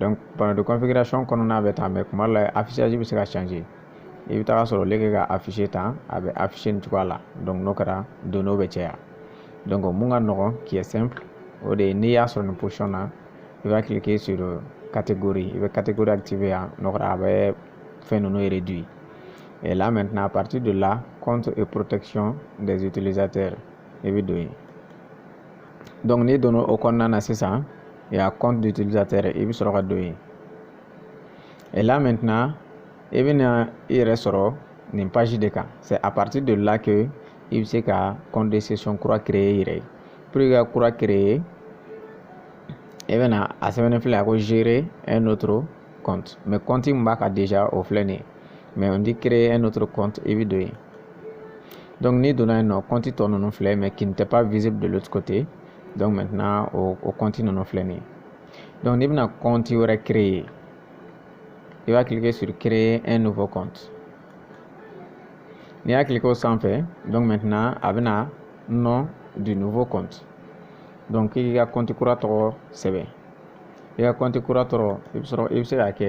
donc panneau de configuration kɔnɔna bɛ tan mais kuma dɔ la affichage bɛ se ka changer i bɛ taa sɔrɔ au lieu que ka afficher tan a bɛ afficher nin cogoya la donc n'o kɛra données bɛ caya donc mun ka nɔgɔn qui est simple o de ye n'i y'a sɔrɔ nin position na i b'a cliquer sur catégorie i bɛ catégorie activer yan n'o kɛra a bɛ fɛn ninnu réduit et là maintenant à partir de là compte et protection des utilisateurs i bɛ don yen donc n'i donna o kɔnɔna na sisan il y a compte d'utilisateur i bɛ sɔrɔ ka don yen et là maintenant i bɛna i yɛrɛ sɔrɔ nin page de kan c'est à partir de là que i bɛ se ka compte de session kura créer i yɛrɛ ye pour que ka kura créer i bɛna a sɛbɛnnen filɛ a ko gérer un autre compte mais compte min b'a kan déjà o filɛ nin ye mais on dit créer un autre compte i bɛ don yen donc n'i donna yen nɔ compte tɔ ninnu filɛ mais qui n'était pas visible de l'autre côté donc maintenant o o compte ninnu filɛ nin ye donc n'i bɛna compte wɛrɛ créer i b'a cliquer sur créer un nouveau compte n'i y'a cliquer o sanfɛ donc maintenant a bɛna nom du nouveau compte donc k'i ka compte kura tɔgɔ sɛbɛn i ka compte kura tɔgɔ i bɛ sɔrɔ i bɛ se k'a kɛ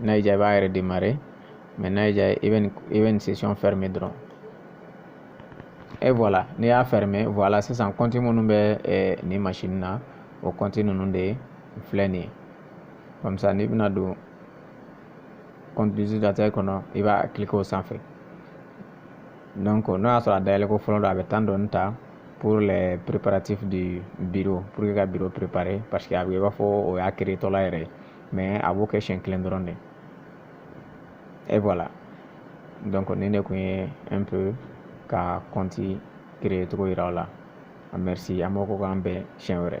n'a y'i diya i b'a redémarrer mais n'a y'i diya i bɛ nin i bɛ nin session fermer dɔrɔn et voilà n'i y'a fermer voilà sisan compte minnu bɛ eh, nin machine na o compte ninnu de filɛ nin ye comme ça n'i bɛna don compte utilisateur kɔnɔ i b'a cliquer o sanfɛ donc n'o y'a sɔrɔ a dayɛlɛ ko fɔlɔ don a bɛ temps dɔɔni ta pour les préparatifs du bureau pour que ka bureau préparer parce que a bɛ i b'a fɔ o y'a créer tɔla yɛrɛ ye mais a b'o kɛ siɲɛ kelen dɔrɔn de et voilà donc nin de kun ye un peu ka compte créer cogo yira aw la merci an b'aw fo k'an bɛn siɲɛ wɛrɛ